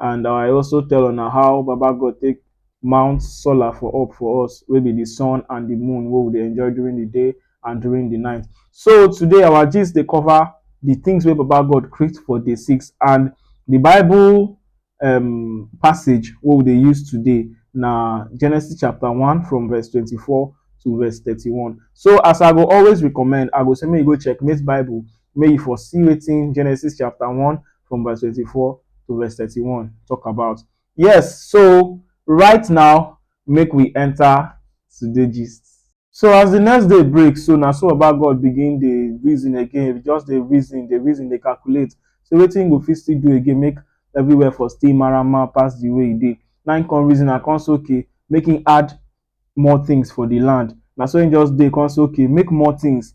and I also tell una how Baba God take mount solar for up for us wey be the sun and the moon wey we dey enjoy during the day and during the night. So today our gist dey cover the things wey Baba God create for day six and the Bible um, passage wey we dey use today na Genesis chapter one from verse twenty-four to verse thirty-one. So as I go always recommend, I go say make you go checkmate Bible Make you for see wetin Genesis chapter one from verse twenty-four to verse thirty-one talk about. Yes, so right now make we enter today gist. So as the next day break, so na so Baba God begin dey reason again, just dey reason, dey reason, dey calculate. So wetin he go fit still do again, make everywhere for still marama pass the way e dey. Na him come reason and come say okay, make him add more things for the land. Na so him just dey come say okay, make more things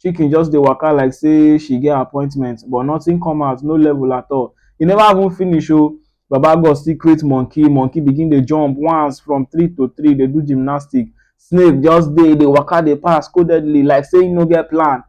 Chicken just dey waka like say she get appointment but nothing come out, no level at all. E never even finish o, Baba God still create monkey, monkey begin dey jump once from three to three dey do gymnastic. Snake just dey dey waka dey pass codedly like say e no get plan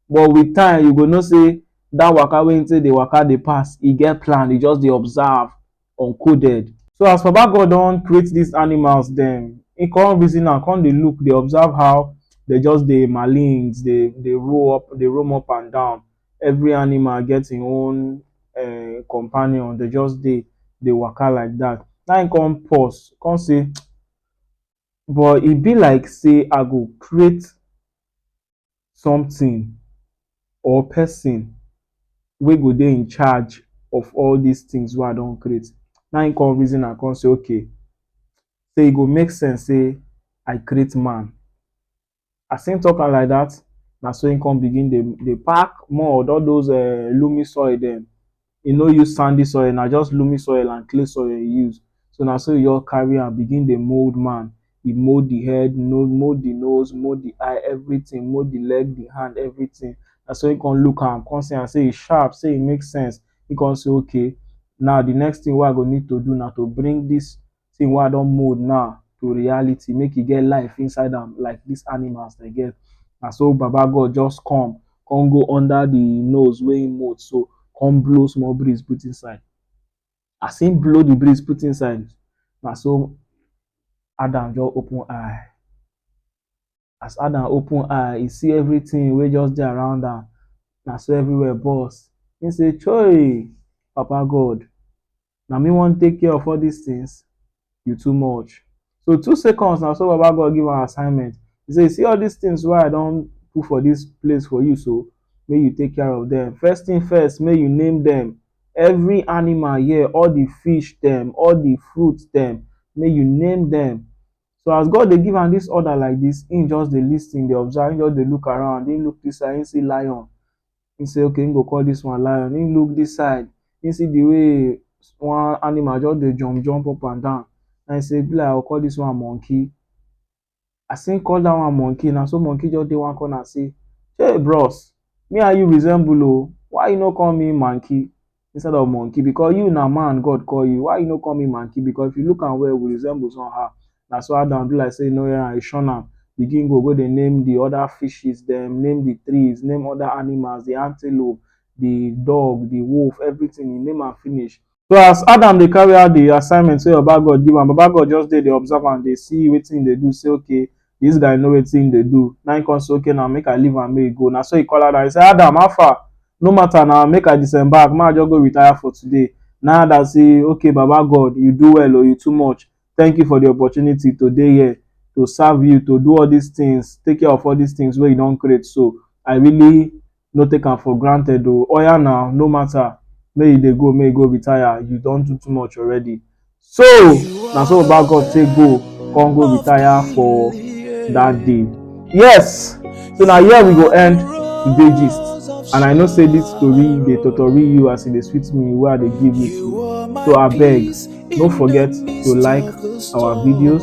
but with time you go know say that waka wey e take dey waka dey pass e get plan, e just dey observe. uncoded. So as Baba God don create dis animals dem, im come reason am come dey look dey observe how dem just dey malings dey dey roll up dey roam up and down. Every animal get im own um companion, dem just dey dey waka like dat. Na im come pause come say but e be like sey I go create something or person wey go dey in charge of all these things wey I don create. Na him come reason am come say okay say e go make sense say I create man. As him talk am like that, na so him come begin dey dey pack mud, all those um loamy soil dem. e no use sandy soil, na just loamy soil and clay soil e use. So na so e just carry am begin dey mould man. E mould the head, mould the nose, mould the eye, everything. Mould the leg, the hand, everything. Na so e con look am, con see am sey e sharp, sey e make sense. E con say okay, now the next thing wey I go need to do na to bring dis thing wey I don mould now to reality make e get life inside am like dis animals dem get. Na so Baba God just come, come go under de nose wey he mould so, come blow small breeze put inside. As he blow de breeze put inside, na so Adam just open eye. As Adam open eye, e see everything wey just dey around am. Na so everywhere burst. E say, Chei! Papa God, na me wan take care of all dis things? You too much. So, two seconds, na so Baba God give am assignment. E say, You see all dis things wey I don put for dis place for you so, make you take care of dem. First thing first, make you name dem. Every animal here, all the fish dem, all the fruit dem, make you name dem. So as God dey give am dis order like dis, im just dey lis ten, dey observe, im just dey look around, im look dis side, im see lion, im say okay im go call dis one lion, im look dis side, im see de way one animal just dey jump jump up and down, na im say e be like I go call dis one monkey. As im call dat one monkey, na so monkey just dey one corner say, Hey bros, me and you resemble oo, why you no call me manky? instead of monkey because you na man God call you why you no call me monkey because if you look am well we resemble somehow na so Adam do like say you no hear am he shun am begin go go dey name the other fishes dem name the trees name other animals the antelope the dog the wolf everything he name am finish so as Adam dey carry out the assignment wey Baba God give am Baba God just dey dey observe am dey see wetin he dey do say okay Dis guy know wetin im dey do. Na im come say, Okay na, make I leave am, make e go. Na so e call Adam, e say, Adam, how far? No matter na, make I disembark, make I just go retire for today. Na im Adam say, Okay Baba God, you do well o, you too much. Thank you for the opportunity to dey here, to serve you, to do all dis things, take care of all dis things wey you don create so. I really. no take am for granted oh oya na no matter make you dey go make you go retire you don do too much already so na so baba God take go come go retire for that day yes so na here we go end today gist and i know say this story dey totori you as e dey sweet me wey i dey give you so abeg no forget to like our videos